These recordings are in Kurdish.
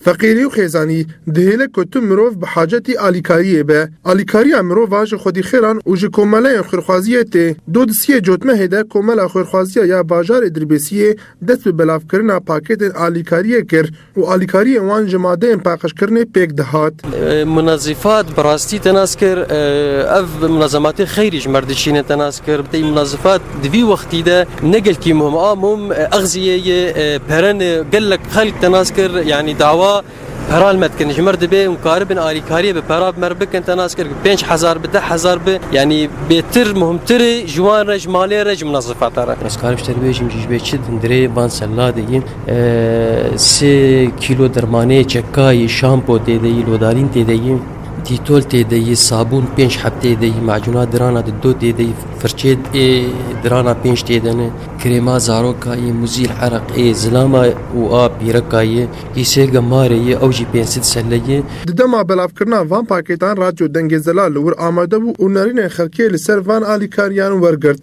Feqîrî û xêzanî dihêle ku tu mirov bi hacetî alîkariyê be. Alîkariya mirova ji xwedîxêran û ji komeleyên xwêrxwaziyê tê. Du disiyê cotmehê de Komela Xwêrxwaziya ya Bajarê Dirbêsiyê dest bi belavkirina pakêtên alîkariyê kir û alîkariyên wan ji madeyên paqijkirinê pêk dihat. Munazifat bi rastî te nas kir. Ev munazematê xeyrî ji mer dişîne te nas kir. Bi tevî munazifat Di vî wextî de ne gelkî mûm a mûm exziyê yê perenê gelek xelk te nas kir yanî dawa pera li me dikin ji me re dibê hûn karibin alîkariyê bi pera bi me re bikin te nas kir pênc hezar bi deh hezar bi yanî bêtir muhimtirê ji wan re ji malê re ji minazifata re. Ez karim ji te bibêjim jî ji vê çi din dirê van sella de yên sê kîlo dermanê çekayê şampo tê de yî lodarîn tê de yî. Dîtol tê de yî, sabûn pênc heb tê de yî, macûna dirana di do tê de yî, firçê ê dirana pênc tê de ne, krêma zaroka yî, muzîl ereq ê, zilama û a pîreka yî, yî sê ge marê yî, ew jî pênc sid selle yî. Di dema belavkirina van pakêtan Radyo Dengê Zelal li wir amade bû û nerînên xelkê li ser van alîkariyan wergirt.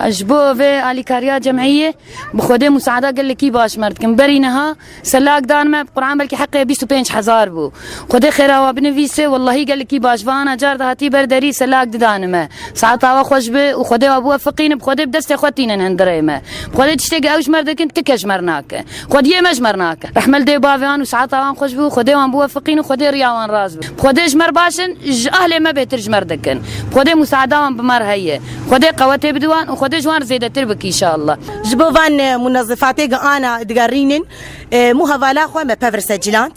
Ez ji bo vê alîkariya cem'îyê bi Xwedê musada gelekî baş mer dikim. Berî niha Se lak dan me bi Quran belkî heqê bîst û pênc hezar bû. Xwedê xêra wan binivîse wellahî gelikî baş va ana car dihatî ber derî se lak didane me. Saeta we xweş be û Xwedê wa bûe fiqîn bi Xwedê bi destê xwe tînin hindirê me. Bi Xwedê tiştê ge ew ji mer dikin ti ke ji mer nake. Xwediyê me ji mer nake. Rehmel dê bavê wan û saeta wan xweş be û Xwedê wan bûe fiqîn û Xwedê riya wan rast be. Bi Xwedê ji mer baş in ji ahlê me bêtir ji mer dikin. Bi Xwedê musaeda wan bi mer heye. Xwedê qewetê bide wan û Xwedê ji wan zêdetir bike inşallah. Ji bo van munezifatê gi ana digerînin mû hevala xwe me pevir secîland.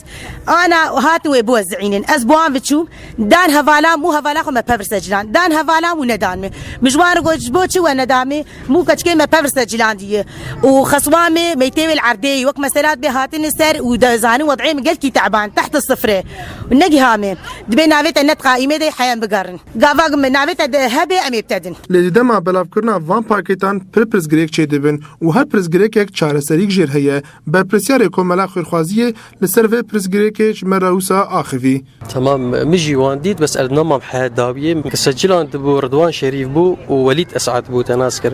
Ana hatin wê biwezînin. Ez bo an viçûm dan hevala mû hevala xwe me pevir secîland. Dan hevala mû nedan me. Min ji wan re got ji bo çi we neda me mû keçikê me pevir secîlandiye û xeswa me meytê wê li erdê ye. Wek mesela dibê hatine ser û dizanin wedeyê min gelkî teban tehta sifre û negiha me. Dibê navê te net qaîmê de heye em bigerin. Gava ku me navê te de hebe em ê bi te din. Lê di dema belavkirina van pakêtan pir pirsgirêk çêdibin û her pirsgirêkek çareserîk jêr heye. Berpirsyarê Komela Xêrxwazî yê li ser vê pirsgirêkê ji me re wisa axivî. Tema min jî wan dît bes erdna mam heya dawiyê. Kesecilan dibû Ridwan Şerîf bû û Welît Esad bû te nas kir.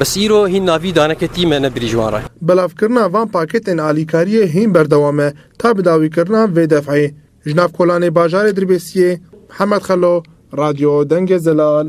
Bes îro hîn navî daneke tî me ne birî ji wan re. Belavkirina van pakêtên alîkariyê hîn berdewam e ta bi dawîkirina vê def'ê ji nav kolanê bajarê Dirbêsiyê. Mihemed Xelo, Radyo Dengê Zelal.